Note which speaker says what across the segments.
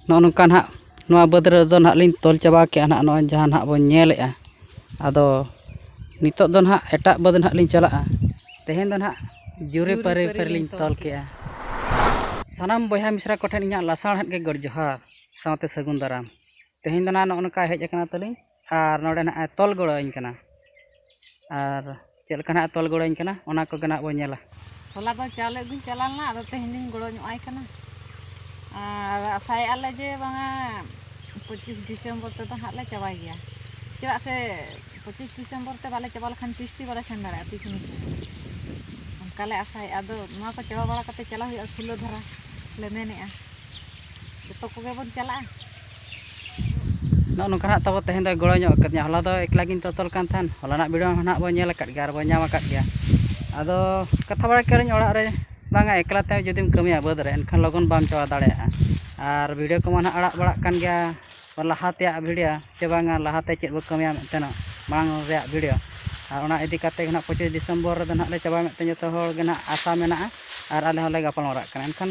Speaker 1: ᱱᱚᱜᱼᱚ ᱱᱚᱝᱠᱟ ᱱᱟᱦᱟᱜ ᱱᱚᱣᱟ ᱵᱟᱹᱫᱽ ᱨᱮᱫᱚ ᱱᱟᱦᱟᱜ ᱞᱤᱧ ᱛᱚᱞ ᱪᱟᱵᱟ ᱠᱮᱜᱼᱟ ᱱᱟᱦᱟᱜ ᱱᱚᱜᱼᱚᱭ ᱡᱟᱦᱟᱸ ᱱᱟᱦᱟᱜ ᱵᱚᱱ ᱧᱮᱞᱮᱜᱼᱟ ᱟᱫᱚ ᱱᱤᱛᱚᱜ ᱫᱚ ᱱᱟᱦᱟᱜ ᱮᱴᱟᱜ ᱵᱟᱹᱫᱽ ᱱᱟᱦᱟᱜ ᱞᱤᱧ ᱪᱟᱞᱟᱜᱼᱟ ᱛᱮᱦᱮᱧ ᱫᱚ ᱱᱟᱦᱟᱜ ᱡᱩᱨᱤ ᱯᱟᱹᱨᱤ ᱨᱮᱞᱤᱧ ᱛᱚᱞ ᱠᱮᱜᱼᱟ ᱥᱟᱱᱟᱢ ᱵᱚᱭᱦᱟ ᱢᱤᱥᱨᱟ ᱠᱚᱴᱷᱮᱱ ᱤᱧᱟᱹᱜ ᱞᱟᱥᱟᱬᱦᱮᱫ ᱜᱮ ᱜᱚᱰ ᱡᱚᱦᱟᱨ ᱥᱟᱶᱛᱮ ᱥᱟᱹᱜᱩᱱ ᱫᱟᱨᱟᱢ ᱛᱮᱦᱮᱧ ᱫᱚ ᱱᱟᱦᱟᱜ ᱱᱚᱜᱼᱚ ᱱᱚᱝᱠᱟ ᱦᱮᱡ ᱠᱟᱱᱟ ᱛᱟᱹᱞᱤᱧ ᱟᱨ ᱱᱚᱰᱮ ᱱᱟᱦᱟᱜ ᱮ ᱛᱚᱞ ᱜᱚᱲᱚᱣᱟᱹᱧ ᱠᱟᱱᱟ ᱟᱨ ᱪᱮᱫ ᱞᱮᱠᱟ ᱱᱟᱦᱟᱜ ᱛᱚᱞ ᱜᱚᱲᱚᱧ ᱠᱟᱱᱟ ᱚᱱᱟ ᱠᱚᱜᱮ ᱱᱟᱦᱟᱜ ᱵᱚᱱ ᱧᱮᱞᱟ ᱦᱚᱞᱟ ᱫᱚ ᱪᱟᱣᱞᱮ
Speaker 2: ᱟᱹᱜᱩᱧ ᱪᱟᱞᱟᱣ ᱞᱮᱱᱟ ᱟᱫᱚ ᱛᱮᱦᱮᱧ ᱫᱚᱧ ᱜᱚᱲᱚ ᱧᱚᱜ ᱟᱭ ᱠᱟᱱᱟ ᱟᱨ ᱟᱥᱟᱭᱮᱫᱼᱟ ᱞᱮ ᱡᱮ ᱵᱟᱝᱟ ᱯᱚᱸᱪᱤᱥ ᱰᱤᱥᱮᱢᱵᱚᱨ ᱛᱮᱫᱚ ᱦᱟᱸᱜ ᱞᱮ ᱪᱟᱵᱟᱭ ᱜᱮᱭᱟ ᱪᱮᱫᱟᱜ ᱥᱮ ᱯᱚᱸᱪᱤᱥ ᱰᱤᱥᱮᱢᱵᱚᱨ ᱛᱮ ᱵᱟᱞᱮ ᱪᱟᱵᱟ ᱞᱮᱠᱷᱟᱱ ᱯᱤᱥᱴᱤ ᱵᱟᱞᱮ ᱥᱮᱱ ᱫᱟᱲᱮᱭᱟᱜᱼᱟ ᱯᱤᱠᱱᱤᱠ ᱧᱮᱞ ᱚᱱᱠᱟ ᱞᱮ ᱟᱥᱟᱭᱮᱫᱼᱟ ᱟᱫᱚ ᱱᱚᱣᱟ ᱠᱚ ᱪᱟᱵᱟ ᱵᱟᱲᱟ ᱠᱟᱛᱮᱫ ᱪᱟᱞᱟᱜ ᱦᱩᱭᱩᱜᱼᱟ ᱠᱷᱩᱞᱟᱹ ᱫᱷᱟᱨᱟ ᱞᱮ ᱢᱮᱱᱮᱫᱼᱟ ᱡᱚᱛᱚ ᱠᱚᱜᱮ ᱵᱚᱱ ᱪᱟᱞᱟᱜᱼᱟ ᱱᱚᱜᱼᱚ
Speaker 1: ᱱᱚᱝᱠᱟ ᱱᱟᱜ ᱛᱟᱵᱚ ᱛᱮᱦᱮᱧ ᱫᱚᱭ ᱜᱚᱲᱚ ᱧᱚᱜ ᱠᱟᱫᱤᱧᱟ ᱦᱚᱞᱟ ᱫᱚ ᱮᱠᱞᱟ ᱜᱤᱧ ᱛᱚᱛᱚᱞ ᱠᱟᱱ ᱛᱟᱦᱮᱱ ᱦᱚᱞᱟᱱᱟᱜ ᱵᱷᱤᱰᱤᱭᱳ ᱦᱚᱸ ᱱᱟᱜ ᱵᱚᱱ ᱧᱮᱞ ᱟᱠᱟᱫ ᱜᱮᱭᱟ ᱟᱨ ᱵᱚᱱ ᱧᱟᱢ ᱟᱠᱟᱫ ᱜᱮᱭᱟ ᱟᱫᱚ ᱠᱟᱛᱷᱟ ᱵᱟᱲᱟ ᱠᱮᱫᱟᱞᱤᱧ ᱚᱲᱟᱜ ᱨᱮ ᱵᱟᱝᱟ ᱮᱠᱞᱟ ᱛᱮ ᱡᱩᱫᱤᱢ ᱠᱟᱹᱢᱤᱭᱟ ᱵᱟᱹᱫᱽ ᱨᱮ ᱮᱱᱠᱷᱟᱱ ᱞᱚᱜᱚᱱ ᱵᱟᱢ ᱪᱟᱵᱟ ᱫᱟᱲᱮᱭᱟᱜᱼᱟ ᱟᱨ ᱵᱷᱤᱰᱤᱭᱳ ᱠᱚᱢᱟ ᱱᱟᱜ ᱟᱲᱟᱜ ᱵᱟᱲᱟᱜ ᱠᱟᱱ ᱜᱮᱭᱟ ᱞᱟᱦᱟ ᱛᱮᱭᱟᱜ ᱵᱷᱤᱰᱤᱭᱳ ᱥᱮ ᱵᱟᱝᱟ ᱞᱟᱦᱟ ᱛᱮ ᱪᱮᱫ ᱵᱚᱱ ᱠᱟᱹᱢᱤᱭᱟ ᱢᱮᱱᱛᱮ ᱱᱟᱜ ᱢᱟᱲᱟᱝ ᱨᱮᱭᱟᱜ ᱵᱷᱤᱰᱤᱭᱳ ᱟᱨ ᱚᱱᱟ ᱤᱫᱤ ᱠᱟᱛᱮᱫ ᱜᱮ ᱱᱟᱜ ᱯᱚᱸᱪᱤᱥ ᱰᱤᱥᱮᱢᱵᱚᱨ ᱨᱮᱫᱚ ᱱᱟᱜ ᱞᱮ ᱪᱟᱵᱟᱭᱟ ᱢᱮᱱᱛᱮ ᱡᱚᱛᱚ ᱦᱚᱲ ᱜᱮ ᱱᱟᱜ ᱟᱥᱟ ᱢᱮᱱᱟᱜᱼᱟ ᱟᱨ ᱟᱞᱮ ᱦᱚᱸᱞᱮ ᱜᱟᱯᱟᱞ ᱢᱟᱨᱟᱜ ᱠᱟᱱᱟ ᱮᱱᱠᱷᱟᱱ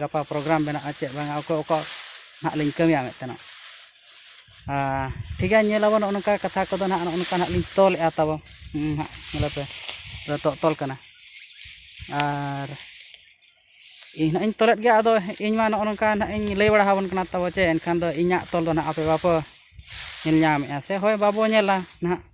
Speaker 1: ᱜᱟᱯᱟ ᱯᱨᱳᱜᱨᱟᱢ ᱢᱮᱱᱟᱜᱼᱟ ᱪᱮᱫ ᱵᱟᱝᱟ ᱚᱠᱚᱭ ᱚᱠᱟ ᱱᱟᱦᱟᱜ ᱞᱤᱧ ᱠᱟᱹᱢᱤᱭᱟ ᱢᱮᱱᱛᱮᱱᱚᱜ ᱟᱨ ᱴᱷᱤᱠ ᱜᱮᱭᱟ ᱧᱮᱞ ᱟᱵᱚᱱ ᱱᱚᱜᱼᱚ ᱱᱚᱝᱠᱟ ᱠᱟᱛᱷᱟ ᱠᱚᱫᱚ ᱱᱟᱦᱟᱜ ᱱᱚᱜᱼᱚ ᱱᱚᱝᱠᱟ ᱱᱟᱦᱟᱜ ᱞᱤᱧ ᱛᱚᱞᱮᱫᱼᱟ ᱛᱟᱵᱚ ᱱᱟᱦᱟᱜ ᱧᱮᱞᱮ ᱯᱮ ᱱᱤᱛᱚᱜ ᱛᱚᱞ ᱠᱟᱱᱟ ᱟᱨ ᱤᱧ ᱱᱟᱦᱟᱜ ᱤᱧ ᱛᱚᱞᱮᱫ ᱜᱮᱭᱟ ᱟᱫᱚ ᱤᱧ ᱢᱟ ᱱᱚᱜᱼᱚ ᱱᱚᱝᱠᱟ ᱱᱟᱦᱟᱜ ᱤᱧ ᱞᱟᱹᱭ ᱵᱟᱲᱟ ᱟᱵᱚᱱ ᱠᱟᱱᱟ ᱛᱟᱵᱚ ᱪᱮ ᱮᱱᱠᱷᱟᱱ ᱫᱚ ᱤᱧᱟᱹᱜ ᱛᱚᱞ ᱫᱚ ᱱᱟᱦᱟᱜ ᱟᱯᱮ ᱵᱟᱯᱮ ᱧᱮᱞ ᱧᱟᱢᱮᱫᱼᱟ ᱥᱮ ᱦᱳᱭ ᱵᱟᱵᱚ ᱧᱮᱞᱟ ᱱᱟᱦᱟᱜ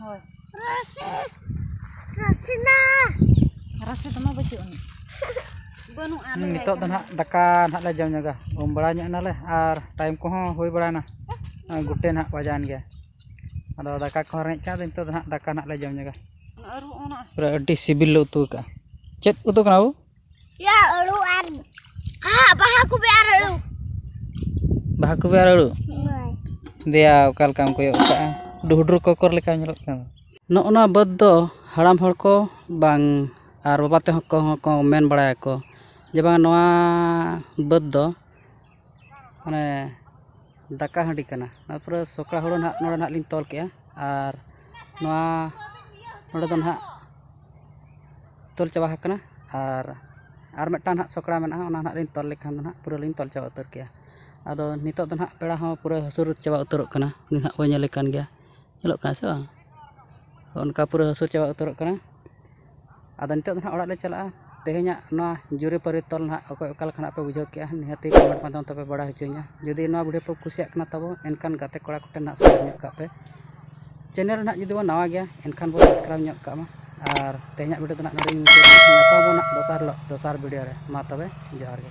Speaker 2: ᱦᱳᱭ
Speaker 3: ᱨᱟᱥᱮ ᱨᱟᱥᱮ ᱱᱟ
Speaker 2: ᱨᱟᱥᱮ ᱫᱚᱢᱟ ᱵᱟᱹᱪᱩᱜ ᱟᱹᱱᱤᱡ ᱵᱟᱹᱱᱩᱜᱼᱟ ᱦᱩᱸ, ᱞᱟᱹᱭᱟᱭ ᱱᱤᱛᱚᱜ ᱫᱚ ᱠᱟᱱᱟ᱾ ᱱᱟᱦᱟᱜ ᱫᱟᱠᱟ
Speaker 1: ᱱᱟᱦᱟᱜ ᱞᱮ ᱡᱚᱢ ᱧᱚᱜᱟ ᱩᱢ ᱵᱟᱲᱟ ᱧᱚᱜ ᱮᱱᱟᱞᱮ ᱟᱨ ᱴᱟᱭᱤᱢ ᱠᱚᱦᱚᱸ ᱦᱩᱭ ᱵᱟᱲᱟᱭᱮᱱᱟ ᱱᱚᱜᱼᱚᱭ ᱜᱩᱴᱮ ᱱᱟᱦᱟᱜ ᱵᱟᱡᱟᱣᱮᱱ ᱜᱮᱭᱟ ᱟᱫᱚ ᱫᱟᱠᱟ ᱠᱚᱦᱚᱸ ᱨᱮᱸᱜᱮᱡ ᱠᱟᱱᱟ ᱟᱫᱚ ᱱᱤᱛᱚᱜ ᱫᱚ ᱱᱟᱦᱟᱜ ᱫᱟᱠᱟ ᱱᱟᱦᱟᱜ ᱞᱮ ᱡᱚᱢ ᱧᱚᱜᱟ ᱚᱱᱟ ᱟᱹᱨᱩ ᱚᱱᱟ
Speaker 2: ᱯᱩᱨᱟᱹ ᱟᱹᱰᱤ ᱥᱤᱵᱤᱞ ᱞᱮ
Speaker 1: ᱩᱛᱩ ᱟᱠᱟᱫᱼᱟ ᱪᱮᱫ ᱩᱛᱩ ᱠᱟᱱᱟ ᱵᱟᱹᱵᱩ ᱭᱟ ᱟᱹᱲᱩ
Speaker 3: ᱟᱨ ᱦᱟ ᱵᱟᱦᱟ ᱠᱚᱵᱮ ᱟᱨ ᱟᱹᱲᱩ
Speaker 1: ᱵᱟᱦᱟ ᱠᱚᱵᱮ ᱟᱨ ᱟᱹᱲᱩ ᱫᱮᱭᱟ ᱚᱠᱟ ᱞᱮᱠᱟᱢ ᱠᱚᱭᱚᱜ ᱠᱟᱜᱼᱟ ᱰᱩᱦᱩᱰᱩᱨ ᱠᱚᱠᱚᱨ ᱞᱮᱠᱟ ᱧᱮᱞᱚᱜ ᱠᱟᱱᱟ ᱱᱚᱜᱼᱚ ᱱᱚᱣᱟ ᱵᱟᱹᱫᱽ ᱫᱚ ᱦᱟᱲᱟᱢ ᱦᱚᱲ ᱠᱚ ᱵᱟᱝ ᱟᱨ ᱵᱟᱵᱟ ᱛᱮᱦᱚᱸ ᱠᱚᱦᱚᱸ ᱠᱚ ᱢᱮᱱ ᱵᱟᱲᱟᱭᱟᱠᱚ ᱡᱮ ᱵᱟᱝ ᱱᱚᱣᱟ ᱵᱟᱹᱫᱽ ᱫᱚ ᱢᱟᱱᱮ ᱫᱟᱠᱟ ᱦᱟᱺᱰᱤ ᱠᱟᱱᱟ ᱚᱱᱟ ᱯᱚᱨᱮ ᱥᱚᱠᱲᱟ ᱦᱩᱲᱩ ᱱᱟᱦᱟᱜ ᱱᱚᱰᱮ ᱱᱟᱦᱟᱜ ᱞᱤᱧ ᱛᱚᱞ ᱠᱮᱜᱼᱟ ᱟᱨ ᱱᱚᱣᱟ ᱱᱚᱰᱮ ᱫᱚ ᱱᱟᱦᱟᱜ ᱛᱚᱞ ᱪᱟᱵᱟ ᱟᱠᱟᱱᱟ ᱟᱨ ᱟᱨ ᱢᱤᱫᱴᱟᱝ ᱦᱟᱸᱜ ᱥᱚᱠᱲᱟ ᱢᱮᱱᱟᱜᱼᱟ ᱚᱱᱟ ᱦᱟᱸᱜ ᱞᱤᱧ ᱛᱚᱞ ᱞᱮᱠᱷᱟᱱ ᱫᱚ ᱦᱟᱸᱜ ᱯᱩᱨᱟᱹ ᱞᱤᱧ ᱛᱚᱞ ᱪᱟᱵᱟ ᱩᱛᱟᱹᱨ ᱠᱮᱭᱟ ᱟᱫᱚ ᱱᱤᱛᱚᱜ ᱫᱚ ᱦᱟᱸᱜ ᱯᱮᱲᱟ ᱦᱚᱸ ᱯᱩᱨᱟᱹ ᱦᱟᱹᱥᱩᱨ ᱪᱟᱵᱟ ᱩᱛᱟᱹᱨᱚᱜ ᱠᱟᱱᱟ ᱩᱱᱤ ᱦᱟᱸᱜ ᱵᱚᱱ ᱧᱮᱞᱮ ᱠᱟᱱ ᱜᱮᱭᱟ ᱧᱮᱞᱚᱜ ᱠᱟᱱᱟᱭ ᱥᱮ ᱵᱟᱝ ᱚᱱᱠᱟ ᱯᱩᱨᱟᱹ ᱦᱟᱹᱥᱩᱨ ᱪᱟᱵᱟ ᱩᱛᱟᱹᱨᱚᱜ ᱠᱟᱱᱟᱭ ᱟᱫᱚ ᱱᱤᱛᱚᱜ ᱫᱚ ᱦᱟᱸᱜ ᱚᱲᱟᱜ ᱞᱮ ᱪᱟᱞᱟᱜᱼᱟ ᱛᱮᱦᱮᱧᱟᱜ ᱱᱚᱣᱟ ᱡᱩᱨᱤᱼᱯᱟᱹᱨᱤ ᱛᱚᱞ ᱦᱟᱸᱜ ᱚᱠᱚᱭ ᱚᱠᱟ ᱞᱮᱠᱟ ᱦᱟᱸᱜ ᱯᱮ ᱵᱩᱡᱷᱟᱹᱣ ᱠᱮᱜᱼᱟ ᱱᱤᱦᱟᱹᱛ ᱜᱮ ᱠᱚᱢᱮᱱᱴ ᱢᱟᱫᱽᱫᱷᱚᱢ ᱛᱮᱯᱮ ᱵᱟᱲᱟᱭ ᱦᱚᱪᱚᱧᱟ ᱡᱩᱫᱤ ᱱᱚᱣᱟ ᱵᱷᱤᱰᱤᱭᱳ ᱯᱮ ᱠᱩᱥᱤᱭᱟᱜ ᱠᱟᱱᱟ ᱛᱟᱵᱚ ᱮᱱᱠᱷᱟᱱ ᱜᱟᱛᱮ ᱠᱚᱲᱟ ᱠᱚᱴᱷᱮᱱ ᱦᱟᱸᱜ ᱥᱮᱭᱟᱨ ᱧᱚᱜ ᱠᱟᱜ ᱯᱮ ᱪᱮᱱᱮᱞ ᱨᱮᱱᱟᱜ ᱡᱩᱫᱤ ᱵᱚᱱ ᱱᱟᱣᱟ ᱜᱮᱭᱟ ᱮᱱᱠᱷᱟᱱ ᱵᱚᱱ ᱥᱟᱵᱥᱠᱨᱟᱭᱤᱵᱽ ᱧᱚᱜ ᱠᱟᱜ ᱢᱟ ᱟᱨ ᱛᱮᱦᱮᱧᱟᱜ ᱵᱷᱤᱰᱤᱭᱳ ᱫᱚ ᱱᱟᱜ ᱱᱚᱰᱮ ᱜᱮ ᱢᱩᱪᱟᱹᱫ ᱧᱟᱯᱟᱢ ᱵᱚᱱ ᱱᱟᱜ ᱫᱚᱥᱟᱨ ᱦᱤᱞᱳᱜ ᱫᱚᱥᱟᱨ ᱵᱷᱤᱰᱤᱭᱳ ᱨᱮ ᱢᱟ ᱛᱚᱵᱮ ᱡᱚᱦᱟᱨ ᱜᱮ